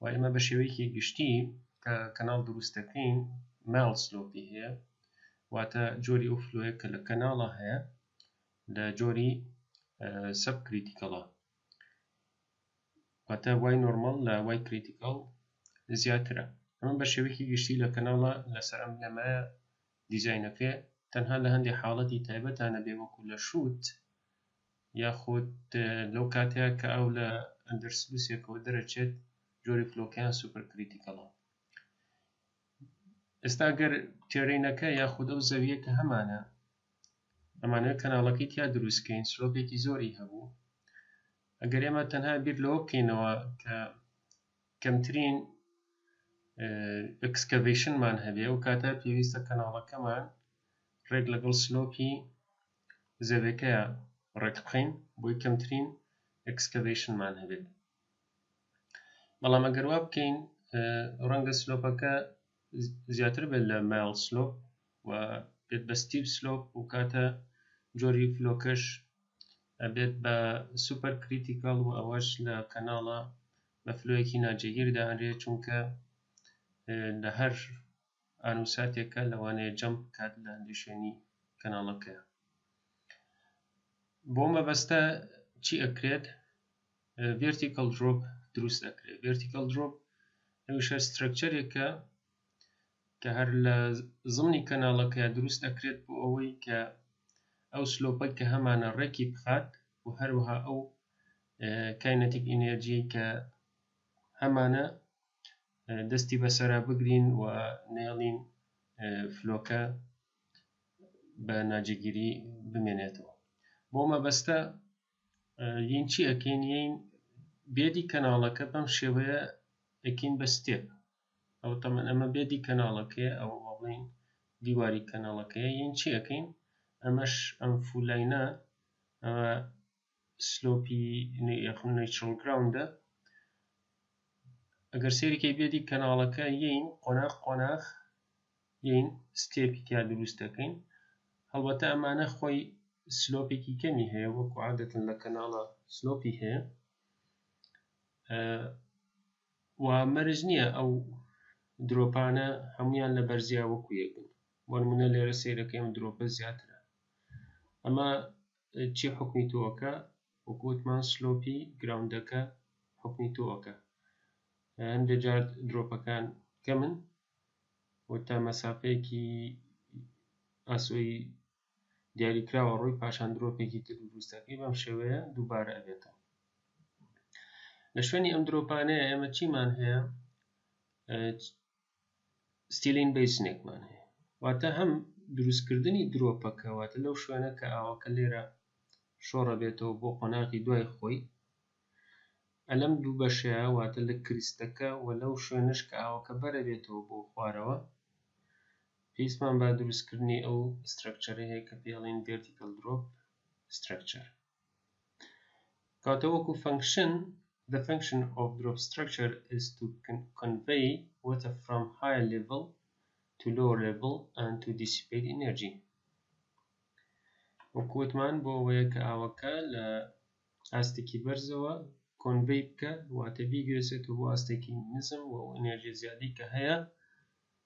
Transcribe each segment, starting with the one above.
و ئێمە بە شێوەیەکی گشتی کە کەناڵ دروست دەکەین ماڵ سلۆپی هەیە واتە جۆری ئەو فلۆیە کە لە کەناڵە هەیە لە جۆری سب کریتیکەڵە واتە وای نۆرمال لە وای کریتیکەڵ زیاترە ئەمە بە شێوەیەکی گشتی لە کەناڵە لەسەر ئەم لەمایە دیزاینەکە تەنها لە هەندێ حاڵەتی تایبەتا نەبێ وەکو لە شووت یاخود لەو کاتەیا کە ئاو لە ئەندەر سلوسێکەوە دەرەچێت جۆری فلۆکەیان سوپەر کریتیکەڵە ئێستا گەر تێرینەکە یاخود ئەو زەویە کە هەمانە ئەمانەوە کەناڵەکەی تیا دروستکەین سلۆپێکی زۆری هەبوو ئەگەر ئێمە تەنها بیر لەوە بکەینەوە کە کەمترین ئەکسکەڤەیشنمان هەبێ ئەو کاتە پێویستە کەناڵەکەمان ڕێک لەگەڵ سلۆپی زەوێکەیە ڕێک بخەین بۆی کەمترین ئەکسکەڤەیشنمان هەبێت بەڵام ئەگەر وا بکەین ڕەنگە سلۆپەکە زیاتر بێت لە مایل سلۆپ و بێت بە ستیپ سلۆپ و کاتە جۆری فلۆکەش ئەبێت بە سوپەر کریتیکال و ئەوەش لە کەناڵە بە فلۆیەکی ناجێگیر دائەنرێت چونکە لە هەر ئان و ساتێکە لەوانەیە جەمپ بکات لە هەندێک شوێنی کەناڵەکە بۆ مەبەستە چی ئەکرێت ڤێرتیکەڵ درۆپ دروست ئەکرێت ڤێرتیکەڵ درۆپ ئەوشە سترەکچەرێکە کە هەر لە زمنی کەناڵەکە دروست ئەکرێت بۆ ئەوەی کە ئەو سلۆپەی کە هەمانە ڕێکی بخات و هەروەها ئەو کاینەتیک ئینێرجیەی کە هەمانە دەستی بەسەرا بگرین و نێڵین فلۆکە بە ناجێگیری بمێنێتەوە بۆ مەبەستە یین چی ئەکەین یین بێدی کەناڵەکە بەم شێوەیە ئەکین بە ستێپ ئەو تەمەن ئەمە بێ دی کەناڵەکەیە ئەوە با بڵێین دیواری کەناڵەکەیە یین چی ئەەکەین ئەمەش ئەم فولینە ئەوە سلۆپی یخم نیچرل گراوندە ئەگەر سێریکەی بێ دی کەناڵەکە یین قۆناخ قۆناخ یین ستێپی تیا دروست دەکەین هەڵبەتە ئەمانە خۆی سلۆپێکی کەمی هەیە وەکو عادەتن لە کەناڵە سلۆپی هەیە و مەرج نیە ئەو درۆپانە هەموویان لە بەرزیا وەکو یەک بن بۆ نمونە لێرە سەیرەکە ئەم درۆپە زیاترە ئەمە چی حکمی تۆکە وەکو وتمان سلۆپی گراوندەکە حکمی تۆکە هەندێک جار درۆپەکان کەمن و تا مەسافەیەکی ئاسۆی دیاریکراوە ڕووی پاشان درۆپێکی تر دروستەکەی بەم شێوەیە دووبارە ئەبێتەوە لە شوێنی ئەم درۆپانەیە ئێمە چیمان هەیە ستیلین بیسنێکمان هەیە واتە هەم دروستکردنی درۆپەکەواتە لەو شوێنە کە ئاوەکە لێرە شۆڕە بێتەوە بۆ قۆناغی دوای خۆی ئەلەم دوو بەشەیە واتە لە کریستەکە و لەو شوێنش کە ئاوەکە بەرە بێتەوە بۆ خوارەوە پێویستمان بە دروستکردنی ئەو سترەکچەرە هەیە کە پێی ئەڵێن ڤێرتیکەل درۆپ سترەکچەر کەواتە وەکو فەنکشن The function of drop structure is to convey water from higher level to lower level and to dissipate energy وەکو وتمان بۆ ئەوەیە کە ئاوەکە لە ئاستێکی بەرزەوە کۆنڤەی بکە واتە بیگوێزێتەوە بۆ ئاستێکی نزم و ئەو ئەنێرژی زیادی کە هەیە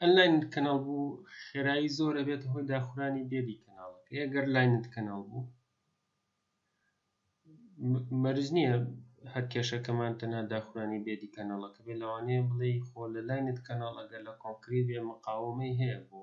ئەنلاینت کەناڵ بوو خێرایی زۆر ئەبێتە هۆی داخورانی دێدی کەناڵەکەی ئەگەر لاینت کەناڵ بوو مەرج نییە هەر کێشەکەمان تەنها داخورانی دێدی کەناڵەکە بێ لەوانەیە بڵێ خۆ لە لاینت کەناڵ ئەگەر لە کۆنکری بێ مقاومەی هەیە بۆ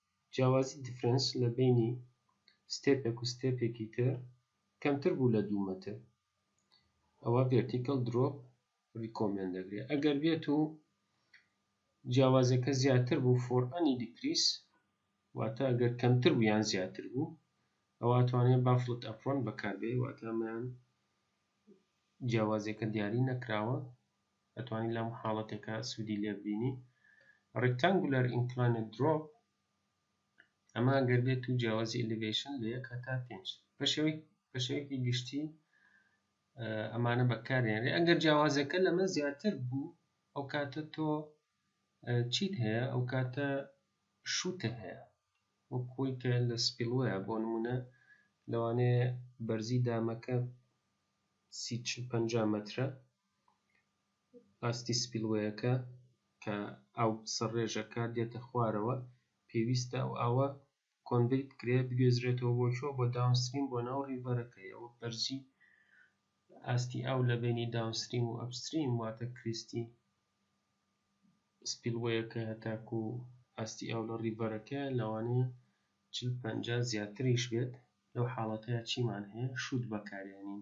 جیاوازی Difference لە بەینی ستێپێک و ستێپێکی تر کەمتر بوو لە دوو مەتر ئەوا Vertical Drop Recommend دەکرێت ئەگەر بێت و جیاوازیەکە زیاتر بوو For Any Decrease واتە ئەگەر کەمتر بوو یان زیاتر بوو ئەوە ئەتوانێت بافڵت ئەپڕۆن بەکاربێ واتە ئەمەیان جیاوازیەکە دیاری نەکراوە ئەتوانی لەم حاڵەتەکە سودی لێ ببینی ڕیکتانگولەر ئینکلاینت درۆپ ئەمە گەر بێت و جیاوازی ئەلیڤەیشن لە یەک هەتا پێنج بەشێوەی بەشێوەیەکی گشتی ئەمانە بەکارێنرێ ئەگەر جیاوازەکە لەمە زیاتر بوو ئەو کاتە تۆ چیت هەیە ئەو کاتە شووتە هەیە وە کۆی کە لە سپیڵوەیە بۆ نمونە لەوانەیە بەرزی دامەکە سی پ مترە ئاستی سپیلوەیەکە کە ئاو سەرڕێژەکە دێتە خوارەوە پێویستە ئەو ئاوە کۆنڤەی بکرێت بگوێزرێتەوە بۆ کوێ بۆ داونستریم بۆ ناو ڕیڤەرەکە یەوە بەرزی ئاستی ئاو لە بەینی داونستریم و ئەپستریم واتە کریستی سپیلوەیەکە هەتاکو ئاستی ئاو لە ڕیڤەرەکە لەوانەیە چل پەنجا زیاتریش بێت لەو حاڵەتەیا چیمان هەیە شووت بەکارێنین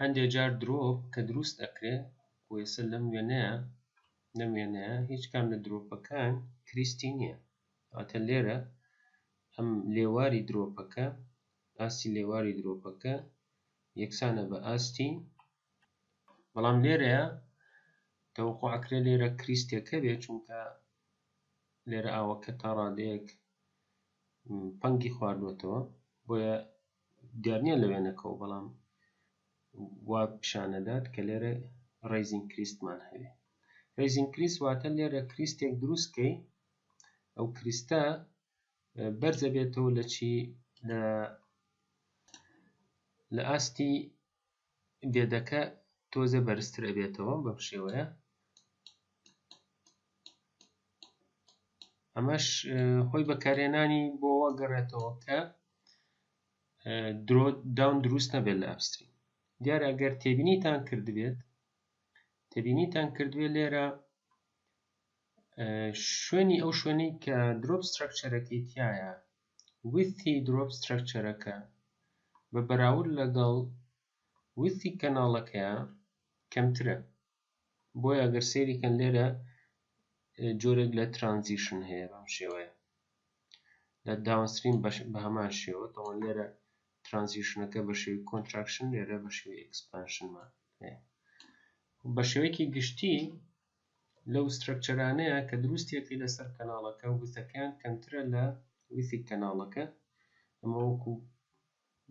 هەندێ جار درۆپ کە دروست ئەکرێ کۆیسە لەم وێنەیە لەم وێنەیە هیچ کام لە درۆپەکان کریستی نییە واتە لێرە ئەم لێواری درۆپەکە ئاستی لێواری درۆپەکە یەکسانە بە ئاستی بەڵام لێرەیە تەوقع ئەکرێ لێرە کریستێکە بێ چونکە لێرە ئاوەکە تا ڕادەیەک پەنگی خواردوەتەوە بۆیە دیار نیە لە وێنەکەوە بەڵام وا پیشان ئەدات کە لێرە ڕەیزین کریستمان هەیە ڕەیزین کریست واتە لێرە کریستێک دروست کەی ئەو کریستە بەرزە بێتەوە لە چی لە لە ئاستی دێدەکە تۆزێ بەرزتر ئەبێتەوە بەم شێوەیە ئەمەش خۆی بەکارێنانی بۆ گەڕێتەوە کە درۆ داون دروست نەبێت لە ئەپستری دیارە ئەگەر تێبینیتان کردبێت تێبینیتان کردوێت لێرە شوێنی ئەو شوێنەی کە درۆپ سترەکچەرەکەی تایە ویستی دروپ سترەکچەرەکە بە بەراورد لەگەڵ ویستی کەناڵەکەیا کەمترە بۆیە ئەگەر سەیری کەن لێرە جۆرێک لە ترانزیشن هەیە بەم شێوەیە لە داونستریم بە هەمان شێوە دەڵێن لێرە ترانزیشنەکە بە شێوی کۆنتراکشن لێرە بە شێوی ئەکسپانشنمان هەیە بە شێوەیەکی گشتی لەو سترەکچەرانەیە کە دروستیەکەی لەسەر کەناڵەکە وتەکەیان کەمترە لە وتی کەناڵەکە ئەمە وەکو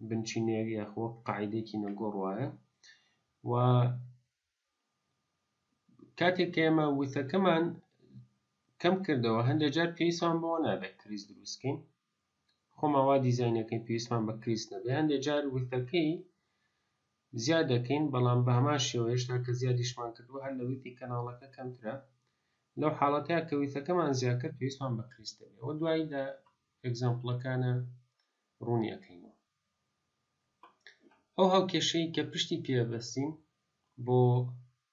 بنچینەیەک یاخۆ وەک قاعدەیەکی نەگۆڕ وایە و کاتێک کە ئێمە وتەکەمان کەم کردەوە هەندێک جار پێویستمان بەوە نابێت کریز دروستکەین خۆمان وا دیزاین دەکەین پێویستمان بە کریس نەبێ هەندێ جار وتەکەی زیاد دەکەین بەڵام بە هەمان شێوە هێشتا کە زیادیشمان کردووە هەر لە ویتی کەناڵەکە کەمترە لەو حاڵەتەیە کە ویتەکەمان زیاد کرد پێویستمان بە کریس دەبێ ئەوە دوایی لە ئەگزامپڵەکانە ڕوونی ئەەکەینەوە ئەو هاوکێشەی کە پشتی پێبەستین بۆ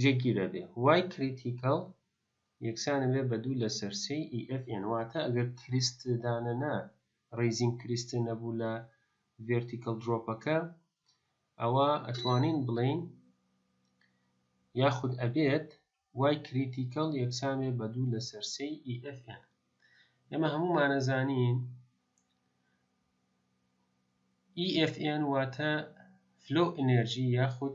جێگیر ئەبێ وای کریتیکەڵ یەکسان ئەبێ بە دوو لەسەر سێی ئی ئێف ئێن واتە ئەگەر کریست دانە نە ڕیزینگ کریست نەبوو لە ڤێرتیکەڵ درۆپەکە ئەوا ئەتوانین بڵێین یاخود ئەبێت وای کریتیکەڵ یەکسان بێ بە دوو لەسەر سێی ئی ئێف ئێن ئێمە هەموومانە زانین ئی ئێف ئێن واتە فلۆ ئەنێرژی یاخود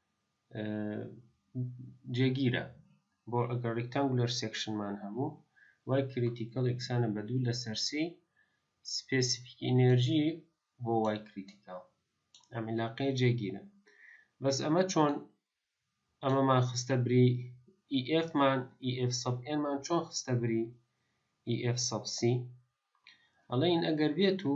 جێگیرە بۆ ئەگەر ڕیکتانگولەر سێکشنمان هەبوو وای کریتیکەڵ یەکسانە بە دوو لەسەر سی سپێسیفیک ئینێرژی بۆ وای کریتیکەڵ ئەم علاقەیە جێگیرە بەس ئەمە چۆن ئەمەمان خستە بری EF مان EF سەب N مان چۆن خستە بری EF سەب C ئەڵێن ئەگەر بێت و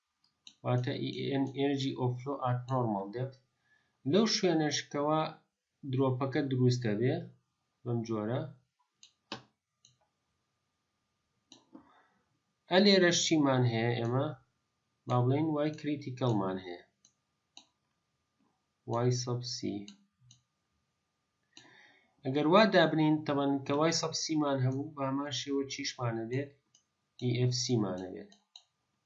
واتە energy of flow at normal depth لەو شوێنەش کەوا درۆپەکە دروست دەبێ بەم جۆرە ئە لێرەش چیمان هەیە ئێمە با بڵێن وای کریتیکەڵمان هەیە وای سەبسی ئەگەر وا دابنین تەمەن کە وای سەبسیمان هەبوو بامان شێوە چیشمانە بێت EFC مانەوێت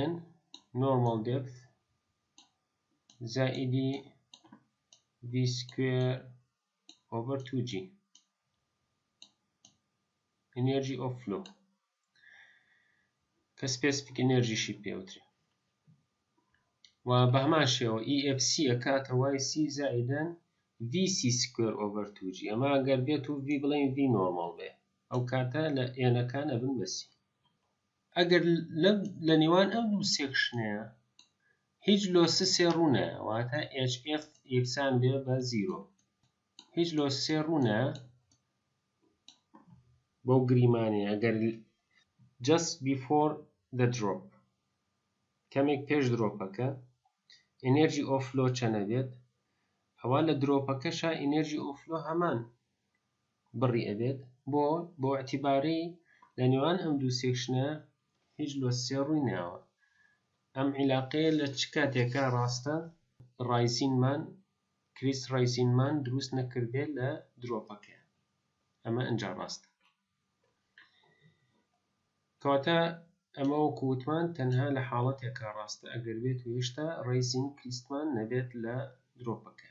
yn normal depth زائیدی v square over 2g energy of flow کە سپێسفیک ئەنێرژیشی پێوترێ و بە هەمان شێوە EFC ئەکاتە وای سی زائیدەن VC سکوێر ئۆڤەر توجی ئەمە گەر بێت و V بڵێن V نۆرماڵ بێ ئەو کاتە لە ئێنەکان ئەبن بەسی ئەگەر لە نێوان ئەم دوو سێکشنەیە هیچ لۆسسێ ڕوونە واتە HF یەکسان بێ بە زیرۆ هیچ لۆسسێ ڕوونە بەو گریمانێ ئەگەر just before the drop کەمێک پێش درۆپەکە ئینێرجی ئۆفلۆ چەنە بێت ئەوە لە درۆپەکەشا ئینێرجی ئۆفلۆ هەمان بڕی ئەبێت بۆ بۆ ئیعتباری لە نێوان ئەم دوو سێکشنە هیچ لۆ سێ ڕووی ناوە ئەم عیلاقەیە لە چ کاتێکا ڕاستە ڕایزینمان کریس ڕایزینمان دروست نەکردێ لە درۆپەکەیە ئەمە ئەنجا ڕاستە کەواتە ئەمە وەکو وتمان تەنها لە حاڵەتێکا ڕاستە ئەگەر بێت و هێشتا ڕایزین کریسمان نەبێت لە درۆپەکە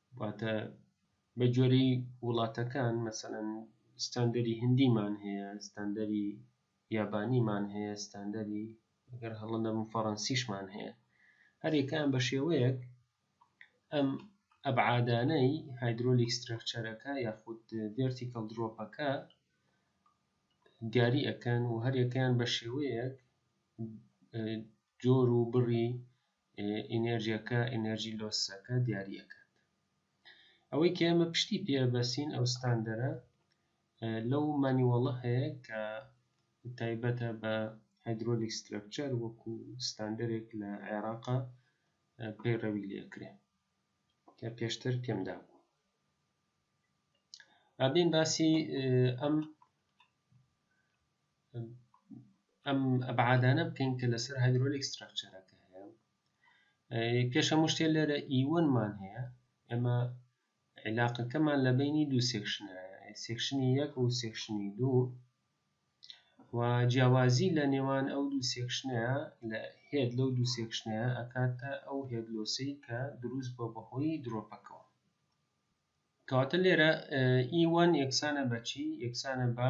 واتە بە گوێرەی وڵاتەکان مەسەلەن ستاندەری هندیمان هەیە، ستاندەری یابانیمان هەیە، ستاندەری گەر هەڵە نەبم فەڕەنسیشمان هەیە، هەر یەکەیان بە شێوەیەک ئەم ئەبعادانەی هایدرۆلیک سترەکچەرەکە یاخود ڤێرتیکەڵ درۆپەکە دیاری ئەکەن و هەر یەکەیان بە شێوەیەک جۆر و بڕی ئینێرجیەکە ئینێرجی لۆسەکە دیاری ئەکات ئەوەی کە ئێمە پشتی پێبەسین ئەو ستاندەرە لەو مانیوەڵە هەیە کە تایبەتە بە هایدرۆلیک سترەکچەر وەکو ستاندەرێک لە عێراقا پەیڕەوی لێکرێ کە پێشتر پێمدا بوو ئابین باسی ئەم ئەم ئەبعادانە بکەین کە لەسەر هایدرۆلیک ستراکچەرەکە هەیە پێش هەموو شتێ لێرە ئیوەنمان e هەیە ئێمە علاقەکەمان لە بینی دوو سێکشنە سێکشنی یەک و سێکشنی دوو و جیاوازی لە نێوان ئەو دوو سێکشنەیە لە هێت لەو دوو سێکشنەیە ئەکاتە ئەو هێدلۆسی کە دروست بە بەهۆی درۆپەکەەوە کەواتە لێرە ئیوان e یەکسانە بەچی یەکسانە بە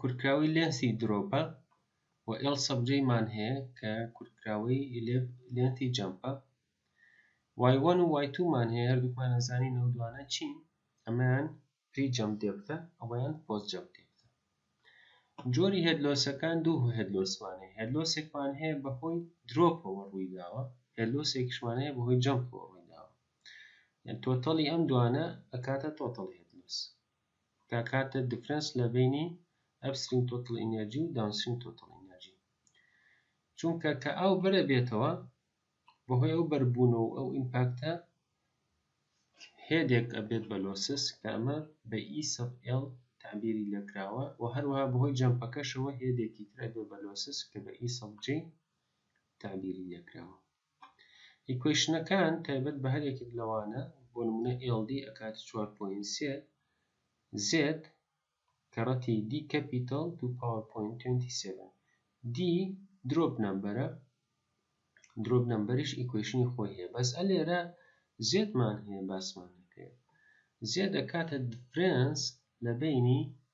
کورتکراوەی لێنسی درۆپە و ئێڵ سەب جەی مان هەیە کە کورتکراوەی لێنتی جەمپە وای وەن و وای توو مان هەیە هەردووکمان ئەزانین ئەو دوانە چین ئەمەیان پری جەمپ دێبتە ئەوەیان پۆس جەمپ دێبتە جۆری هێد لۆسەکان دوو هێد لۆسمان هەیە هێد لۆسێکمان هەیە بەهۆی درۆپەوە ڕووی داوە هێد لۆسێکیشمان هەیە بەهۆی جەمپەوە ڕووی داوە یان تۆتەڵی ئەم دوانە ئەکاتە تۆتەڵ هێد لۆس دەکاتە دفرەنس لە بەینی ئەپستریم تۆتڵ ئینێرجی و داونستریم تۆتڵ ئینێرجی چونکە کە ئاو بەرە بێتەوە بەهۆی ئەو بەربوون و ئەو ئیمپاکتە هێدێک ئەبێت بە لۆسس کە ئەمە بە ئی سەب ئێڵ تعبیری لێکراوە و هەروەها بەهۆی جەمپەکەشەوە هێدێکی تر ئەبێت بە لۆسس کە بە ئی سەب جەی تعبیری لێکراوە ئیکوەیشنەکان تایبەت بە هەر یەکێک لەوانە، بۆ نموونە ئێڵ دی ئەکاتە چوار پۆینت سێ زێد کەڕەتی دی کەپیتەڵ توو پاوەر پۆینت توێنتی سێڤن. دی درۆپ نەمبەرە، درۆپ نەمبەریش ئیکوەیشنی خۆی هەیە، بەس ئە لێرە زێدمان هەیە باسمان نەکرێ. زێد ئەکاتە دفرێنس لە بەینی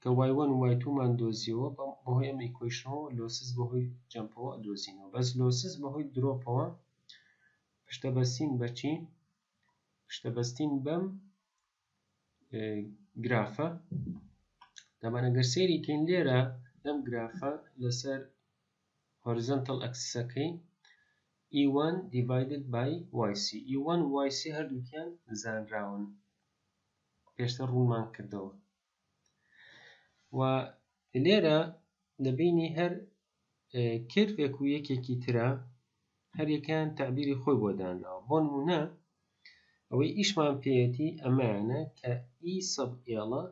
کە وای وەن و وای توومان دۆزیەوە بەهۆی ئەم ئیکۆیشنەوە و لۆسس بەهۆی جەمپەوە ئەدۆزینەوە بەس لۆسس بەهۆی درۆپەوە پشتە بەستین بە چی پشتە بەستین بەم گرافە دەبەن ئەگەر سەیری کەین لێرە لەم گرافە لەسەر هۆریزنتەڵ ئەکسسەکەی E1 divided by YC E1 و YC هەردووکیان زانراون پێشتر ڕوونمان کردەوە و لێرە دەبینی هەر کێرڤێک و یەکێکی ترە هەریەکان تعبیری خۆی بۆ دانراوە بۆ نمونە ئەوەی ئیشمان پێەتی ئەمانە کە ئی e سەب ئێڵە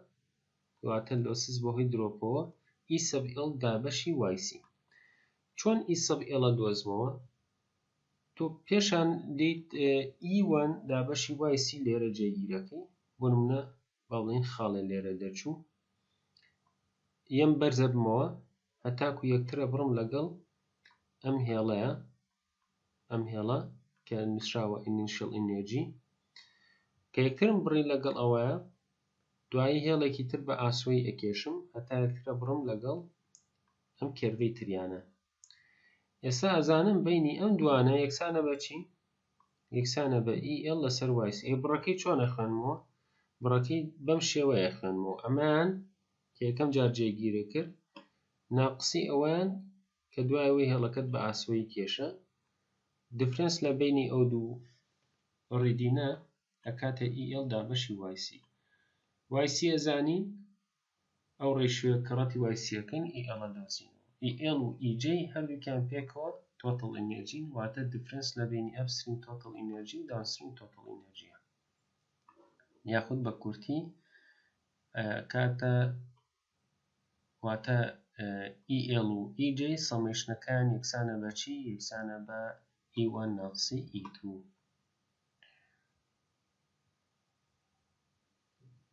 واتە لۆسز بەهۆی درۆپەوە ئی e سەب ئێڵ دابەشی وایسی چۆن ئی e سەب ئێڵە دۆزمەوە تۆ پێشان دێیت E1 دابەشی وای سی لێرە جێگیرەکەی بۆ نمونە با بڵێین خاڵێ لێرە دەرچوو یەم بەرزە بمەوە هەتاکو یەکترە بڕم لەگەڵ ئەم هێڵەیە ئەم هێڵە کە نووسراوە ئینیشل ئینێرجی کە یەکترم بڕی لەگەڵ ئەوەیە دوایی هێڵێکی تر بە ئاسۆی ئەکێشم هەتا یەکترە بڕم لەگەڵ ئەم کێرڤەی تریانە ئێستا ئەزانم بەینی ئەم دوانە یەکسانە بە چی؟ یەکسانە بە EL لەسەر YC ئەی بڕەکەی چۆن ئەخوێنمەوە؟ بڕەکەی بەم شێوەیە ئەخوێنمەوە ئەمەیان کە یەکەم جار جێگیرە کرد ناقسی ئەوەیان کە دوای ئەوەی هێڵەکەت بە ئاسۆیی کێشا دیفرەنس لە بینی ئەو دوو ڕیدینە ئەکاتە EL دابەشی YC YC ئەزانی ئەو ڕێشیۆیە کە ڕەتی وای سییەکەن ئی ئێڵە دۆزینەوە. ئی ئێڵ و ئی جەی هەردووکیان پێکەوە تۆتڵ ئینێرجین، واتە دیفرێنس لە بەینی ئەپ ستریم تۆتڵ ئینێرجی و داون ستریم تۆتڵ ئینێرجییە. یاخود بە کورتی ئەکاتە واتە ئی ئێڵ و ئی جەی سەمەیشنەکان یەکسانە بە چی؟ یەکسانە بە ئی وان ناقسی ئی توو.